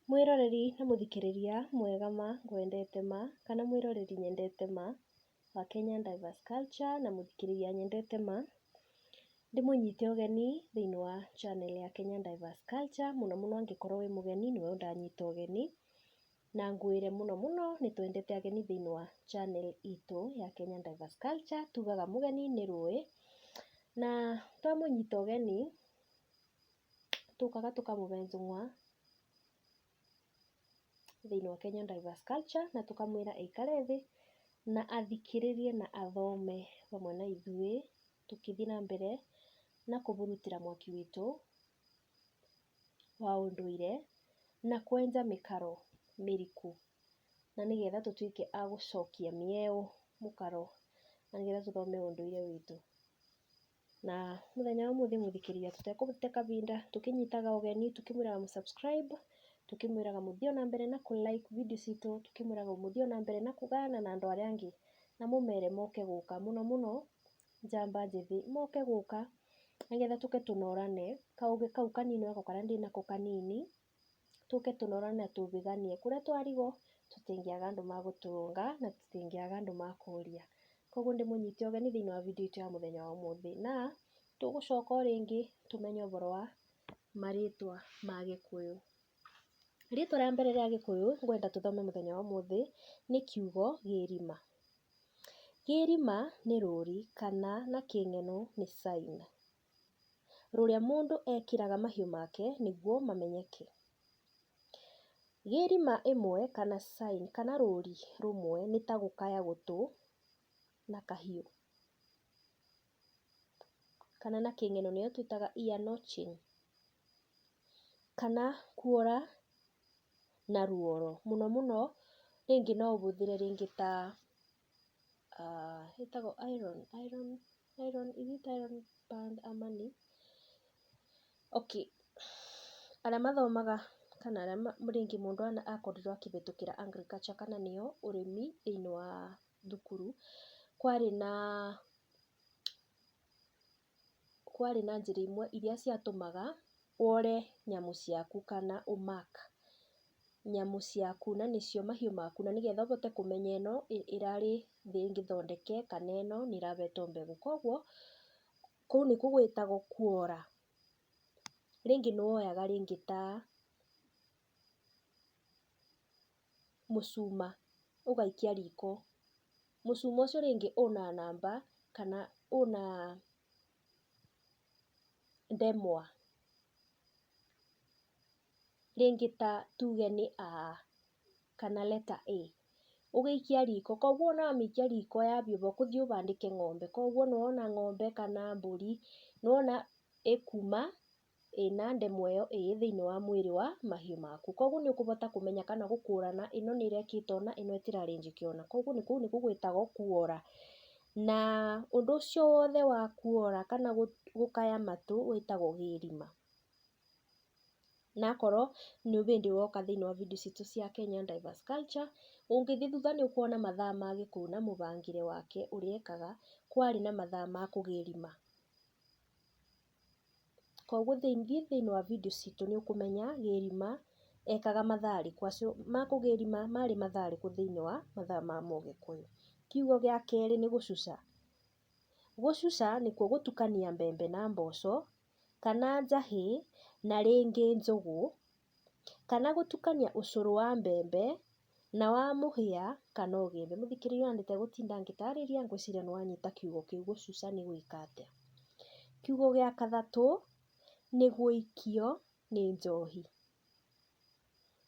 Mwĩroreri na mũthikĩrĩria mwega ma, ngwendete ma, kana mwĩroreri nyendete ma, wa Kenyan Diverse Culture na mũthikĩrĩria nyendete ma, ndĩmũnyite ũgeni thĩinĩ wa channel ya Kenyan Diverse Culture, mũno mũno angĩkorwo wĩ mũgeni nĩwe ũndanyita ũgeni, na ngwĩre mũno mũno nĩ twendete ageni thĩinĩ wa channel itũ ya Kenyan Diverse Culture, tugaga mũgeni nĩ rũĩ, na twamũnyita ũgeni, Tũkaga tũkamũbenja ng'wa thĩinĩ wa Kenya Diverse Culture na tũkamwĩra aikare thĩ na athikĩrĩrie na athome hamwe na ithuĩ tũkĩthiĩ na mbere na kũmũrutĩra mwaki witũ wa ũndũire na kwenja mĩkaro mĩriku na nĩ getha tũtuĩke a gũcokia mĩeũ mũkaro na nĩ getha tũthome ũndũire witũ. na mũthenya wa ũmũthĩ mũthikĩria tũtekũte kabinda tũkĩnyitaga ũgeni tũkĩmwĩraga mũ subscribe tũkĩmwĩraga mũthiĩ ona mbere na kũ like video citũ tũkĩmwĩraga mũthiĩ ona mbere na kũgayana na andũ arĩa angĩ na mũmere moke gũka mũno mũno njamba njĩthĩ moke gũka nĩgetha tũke tũnorane kaũgĩ kau kanini onakorwo karĩa ndĩnako kanini tũke tũnore na tũbĩganie. Kũrĩa twarigwo tũtingĩaga andũ magũtũrũnga na tũtingĩaga andũ makũria. Koguo ndĩmũnyite ũgeni thĩinĩ wa video itũ ya mũthenya wa ũmũthĩ. Na tũgũcoka o rĩngĩ tũmenye ũboro wa marĩtwa ma gĩkũyũ. Rĩtwa rĩa mbere rĩa gĩkũyũ ngwenda tũthome mũthenya wa ũmũthĩ nĩ kiugo gĩrima. Kĩrima nĩ rũri kana na kĩng'eno nĩ sign. rũrĩa mũndũ ekĩraga mahiũ make nĩguo mamenyeke. Gĩrima ĩmwe kana sign kana rũri rũmwe nĩ ta gũkaya gũtũ na kahiũ, kana na kĩng'eno nĩyo twĩtaga ear notching kana kuora na ruoro, mũno mũno rĩngĩ no ũhũthĩre rĩngĩ ta... ĩtagwo iron iron iron is it iron band ama nĩ? Okay arĩa mathomaga kana arĩa rĩngĩ mũndũ akorirwo akĩhĩtũkĩra agriculture kana nĩyo ũrĩmi thĩinĩ wa thukuru kwarĩ na... kwarĩ na njĩra imwe iria ciatũmaga wore nyamũ ciaku kana ũ mark nyamũ ciaku na nĩcio mahiũ maku na nĩgetha ũhote kũmenya ĩno ĩrarĩ thĩ ngĩthondeke kana ĩno nĩ ĩrahetwo mbegũ. Koguo kũu nĩkuo gwĩtagwo kwara. Rĩngĩ nĩ woyaga rĩngĩ ta... mũcuma ũgaikia riko, mũcuma ũcio rĩngĩ ũna namba kana ũna ndemwa, rĩngĩ ta tuge nĩ A kana letter A, ũgĩikia riko, koguo ona wamĩikia riko yambia ũguo kũthiĩ ũbandĩke ng'ombe, koguo nĩwona ng'ombe kana mbũri, nĩwona ĩkuma. ĩna ndemwa ĩyo ĩĩ thĩinĩ wa mwĩrĩ wa mahiũ maku. Koguo nĩ ũkũbota kũmenya kana gũkũrana ĩno nĩ ĩrekĩte ũna, ĩno ĩtirarĩ njĩke ũna. Koguo nĩ kũu nĩkuo gwĩtagwo kuora. Na ũndũ ũcio wothe wa kuora kana gũkaya matũ wĩtagwo gĩĩrima. Na akorwo nĩ hĩndĩ woka thĩinĩ wa video citũ cia Kenyan Diverse Culture, ũngĩthiĩ thutha nĩ ũkuona mathaa ma Gĩkũyũ na mũbangĩre wake ũrĩa ekaga kwarĩ na mathaa ma kũgĩĩrima. Koguo thiĩ thĩinĩ wa video citũ nĩ ũkũmenya gĩthima ekaga mathaa rĩkũ, ma kũgĩthima marĩ mathaa rĩkũ thĩinĩ wa mathaa ma mũgĩkũyũ. Kiugo gĩa kerĩ nĩ gũcuca. Gũcuca nĩkuo gũtukania mbembe na mboco, kana njahĩ na rĩngĩ njũgũ. kana gũtukania ũcũrũ wa mbembe na wa mũhĩa kana ũgĩmbĩ. Mũthikĩrĩria ona ndegũtinda ngĩtarĩria ngwĩciria nĩ wanyita kiugo kĩu gũcuca nĩ gwĩka atĩa. Kiugo gĩa gatatũ nĩ gũikio nĩ njohi.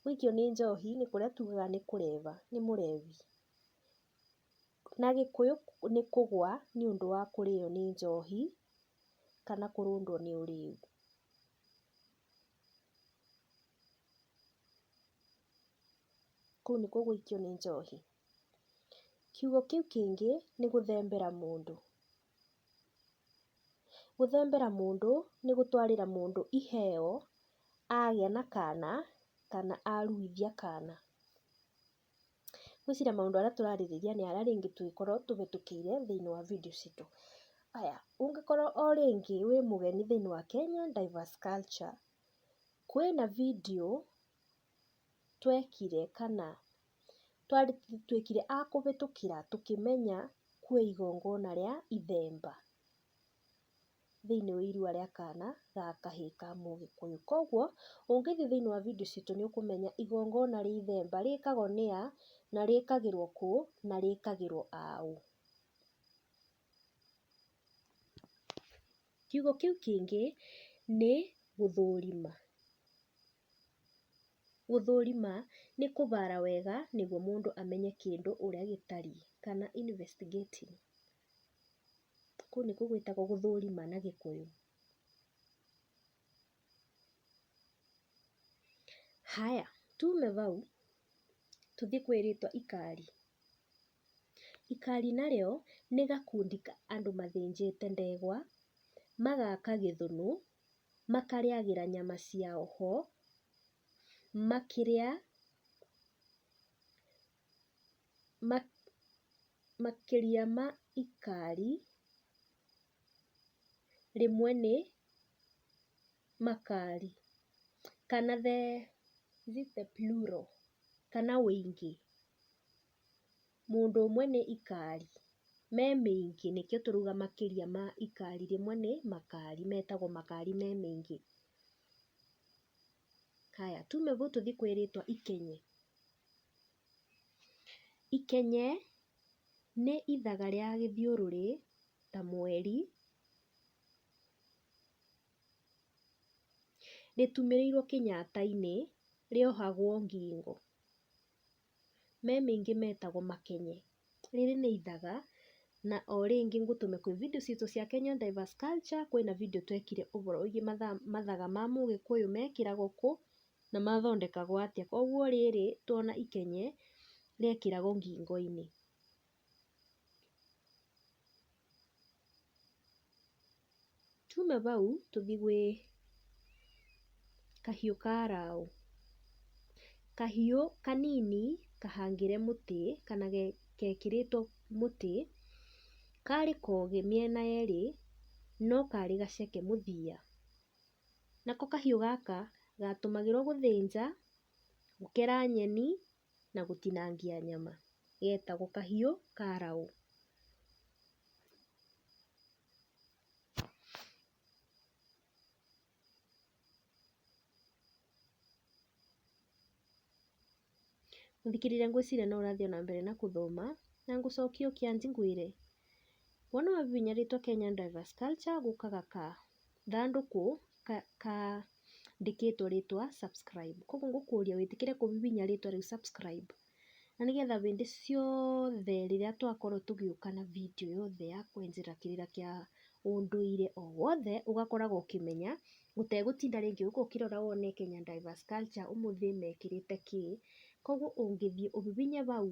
Gũikio nĩ njohi nĩ kũrĩa tugaga nĩ kũreva, nĩ mũrevi. Na gĩkũyũ nĩ kũgwa nĩ ũndũ wa kũrĩo nĩ njohi kana kũrũndwo nĩ ũrĩu. kũu nĩko gũikio nĩ njohi. Kiugo kĩu kĩngĩ nĩ gũthembera mũndũ. Gũthembera mũndũ nĩ gũtwarĩra mũndũ iheo agĩa na kana kana aruithia kana. Ngwĩciria maũndũ arĩa tũrarĩrĩria nĩ arĩa rĩngĩ tũngĩkorwo tũhĩtũkĩire thĩinĩ wa video citũ. Haya, ũngĩkorwo o rĩngĩ wĩ mũgeni thĩinĩ wa Kenya Diverse Culture, kwĩna video twekire kana twekire a kũhĩtũkĩra tũkĩmenya kwĩ igongona rĩa ithemba. thĩinĩ wa irua rĩa kana ga kahĩĩ ka mũgĩkũyũ. Koguo ũngĩthiĩ thĩinĩ wa video citũ nĩ ũkũmenya igongona rĩa ithemba rĩkagwo nĩ a, na rĩkagĩrwo kũ, na rĩkagĩrwo a ũ. Kiugo kĩu kĩngĩ nĩ gũthũrima. Gũthũrima nĩ kũbara wega nĩguo mũndũ amenye kĩndũ ũrĩa gĩtariĩ kana investigating. Kũu nĩkuo gwĩtagwo gũthũrima na gĩkũyũ. Haya, tume bau tũthiĩ kwĩ rĩtwa ikari. Ikari narĩo nĩ gakundi ka andũ mathĩnjĩte ndegwa, magaka gĩthũnũ, makarĩagĩra nyama ciao ho, makĩrĩa makĩria ma ikari rĩmwe nĩ makari kana the is it the plural kana ũingĩ, mũndũ ũmwe nĩ ikari, me mĩingĩ nĩkĩo tũrauga makĩria ma ikari rĩmwe nĩ makari, metagwo makari me maingĩ. Haya tume gũkũ tũthiĩ kwĩ rĩtwa ikenye. Ikenye nĩ ithaga rĩa gĩthiũrũrĩ ta mweri, rĩtumĩrĩirwo kĩnyata-inĩ, rĩohagwo ngingo. me mĩingĩ metagwo makenye. Rĩrĩ nĩ ithaga, na o rĩngĩ ngũtũme kwĩ video citũ cia Kenya Diverse Culture, kwĩna video twekire ũhoro wĩgiĩ mathaga ma mũgĩkũyũ mekĩragwo kũ, na mathondekagwo atĩa. Koguo rĩrĩ, tuona ikenye, rĩekĩragwo ngingo-inĩ. Tuuma bau tũthi gwĩ kahiũ ka Araũ. Kahiũ kanini kahangĩre mũtĩ kana gekĩrĩtwo mũtĩ, karĩ kogĩ mĩena yerĩ no karĩ gaceke mũthia. Nako kahiũ gaka gatũmagĩrwo gũthĩnja, gũkera nyeni na gũtinangia nyama getagwo kahiũ ka raũ. Mũthikĩrĩria ngwĩciria no ũrathiĩ ona mbere na gũthoma na ngũcokie ũkĩanjiguĩre. Wona ũhihinyĩrĩtwo Kenyan Drivers Culture gũkaga ka. gathandũkũ kandĩkĩtwo rĩtwa subscribe. Koguo ngũkũria wĩtĩkĩre kũbibinya rĩtwa rĩu subscribe na nĩ getha hĩndĩ ciothe rĩrĩa twakorwo tũgĩũka na video yothe ya kwenjera kĩrĩra kĩa ũndũire o wothe ũgakoragwo ũkĩmenya ũtegũtinda rĩngĩ ũgĩũka ũkĩrora wone Kenya Diverse Culture ũmũthĩ mekĩrĩte kĩĩ. Koguo ũngĩthiĩ ũbibinye bau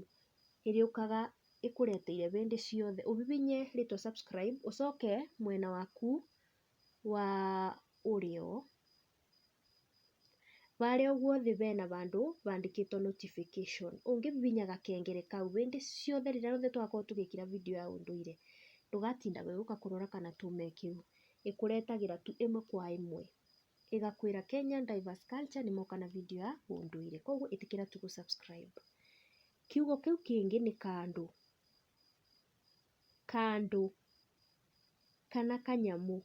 ĩrĩũkaga ĩkũreteire hĩndĩ ciothe, ũhihinye rĩtwa subscribe ũcoke mwena waku wa ũrĩo, harĩa ũguo thĩ hena handũ handĩkĩtwo notification, ũngĩhihinya gakengere kau hĩndĩ ciothe rĩrĩa rĩothe twakorwo tũgĩkĩra video ya ũndũire ndũgatindaga ũgĩũka kũrora kana tume kĩu, ĩkũretagĩra tu ĩmwe kwa ĩmwe. ĩgakwĩra Kenya Diverse Culture nĩ moka na video ya ũndũire. Koguo ĩtĩkĩra tu gũ subscribe. Kiugo kĩu kĩngĩ nĩ kandũ. Kandũ kana kanyamũ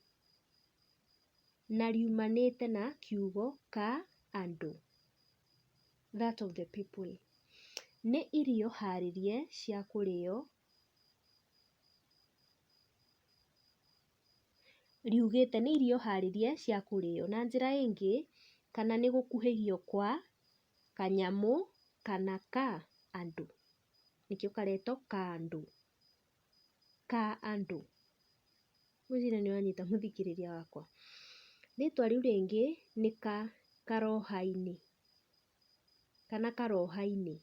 na riumanĩte na kiugo ka andũ, that of the people. Nĩ irio harĩrie cia kũrĩo riugĩte nĩ irio harĩrie cia kũrĩo. Na njĩra ĩngĩ, kana nĩ gũkuhĩhio kwa kanyamũ kana ka andũ, nĩkĩo karetwo kandũ, ka andũ. Ngwĩciria nĩ ũranyita mũthikĩrĩria wakwa. Rĩtwa rĩu rĩngĩ nĩ ka karoha-inĩ. kana karoha-inĩ?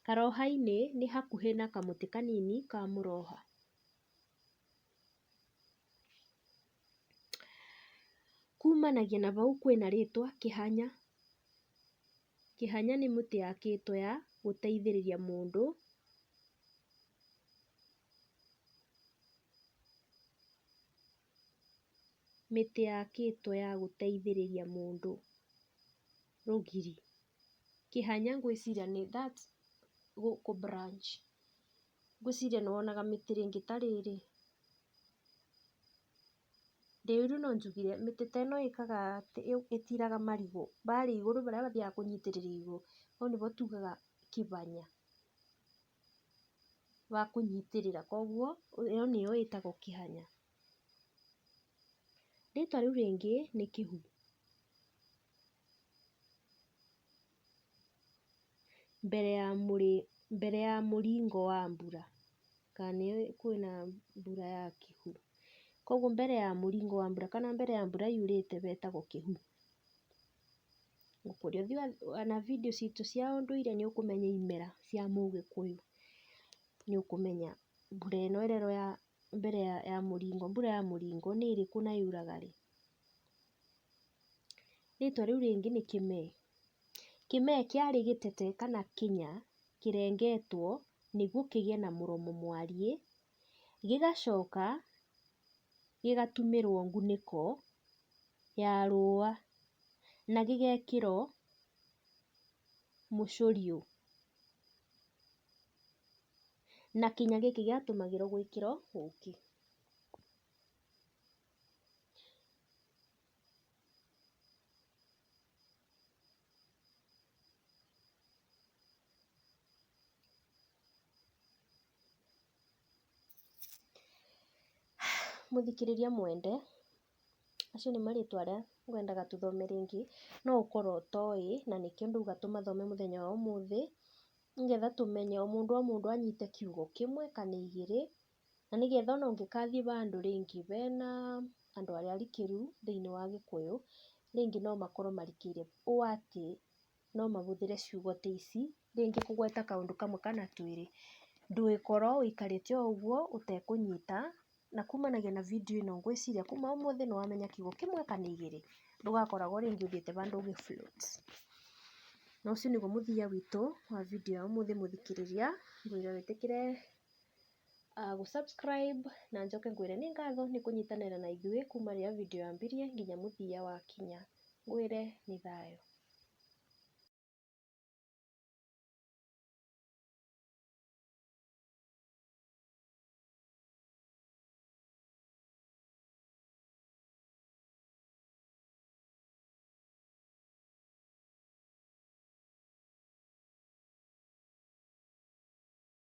Karoha-inĩ nĩ hakuhĩ na kamũtĩ kanini ka mũroha. Kumanagia na hau kwĩna rĩtwa kĩhanya. Kĩhanya nĩ mĩtĩ yakĩtwo ya gũteithĩrĩria mũndũ mĩtĩ yakĩtwo ya gũteithĩrĩria mũndũ rũgiri. Kĩhanya ngwĩciria nĩ that gũkũ branch. Ngwĩciria nĩ wonaga mĩtĩ rĩngĩ ta rĩrĩ. Ndĩ ũiru no njugire mĩtĩ ta ĩno ĩkaga atĩ, ĩtiraga marigũ, barĩa igũrũ barĩa bathiaga kũnyitĩrĩra igũrũ, hau nĩho tugaga kĩbanya. wa kũnyitĩrĩra, koguo ĩyo nĩyo ĩtagwo kĩhanya. Rĩtwa rĩu rĩngĩ nĩ kĩhu. Mbere ya mbere ya mũringo wa mbura, kana nĩ kwĩna mbura ya kĩhu, koguo mbere ya mũringo wa mbura kana mbere ya mbura yurĩte wetagwo kĩhu. Kũrĩa ũthiaga ona video citũ cia ũndũire nĩ ũkũmenya imera cia mũgĩkũyũ, nĩ ũkũmenya mbura ĩno ĩrerwo ya mbere ya mũringo, mbura ya mũringo nĩ ĩrĩkũ na yuraga rĩ. Rĩtwa rĩu rĩngĩ nĩ kĩmee. Kĩmee kĩarĩ gĩtete kana kĩnya kĩrengetwo nĩguo kĩgĩe na mũromo mwariĩ. gĩgacoka gĩgatumĩrwo ngunĩko ya rũa na gĩgekĩrwo mũcũriũ. Na kĩnya gĩkĩ gĩatũmagĩrwo gwĩkĩrwo ũkĩ. Mũthikĩrĩria mwende, macio nĩ marĩtwa arĩa ngwendaga tũthome rĩngĩ, no ũkorwo ũtoĩ, na nĩkĩo ndauga tũmathome mũthenya wa ũmũthĩ, nĩgetha tũmenye o mũndũ o mũndũ anyite kiugo kĩmwe kana igĩrĩ. Na nĩgetha ona ũngĩkathiĩ handũ rĩngĩ hena andũ arĩa arikĩru thĩinĩ wa gĩkũyũ, rĩngĩ no makorwo marikĩire ũũ atĩ no mahũthĩre ciugo ta ici, rĩngĩ kũgweta kaũndũ kamwe kana twĩrĩ, ndũgĩkorwo ũikarĩte o ũguo ũtekũnyita, na kumanagia na video ĩno ngwĩciria kuma ũmũthĩ nĩ wamenya kiugo kĩmwe kana igĩrĩ, ndũgakoragwo rĩngĩ ũthiĩte handũ ũgĩ float. Na ũcio nĩguo mũthia witũ wa video ya ũmũthĩ mũthikĩrĩria, ngwĩre wĩtĩkĩre. uh, gũsubscribe na njoke ngwĩre nĩ ngatho nĩ kũnyitanĩra na ithuĩ kuma rĩrĩa video yambirie nginya mũthia wa kinya ngwĩre nĩ thayũ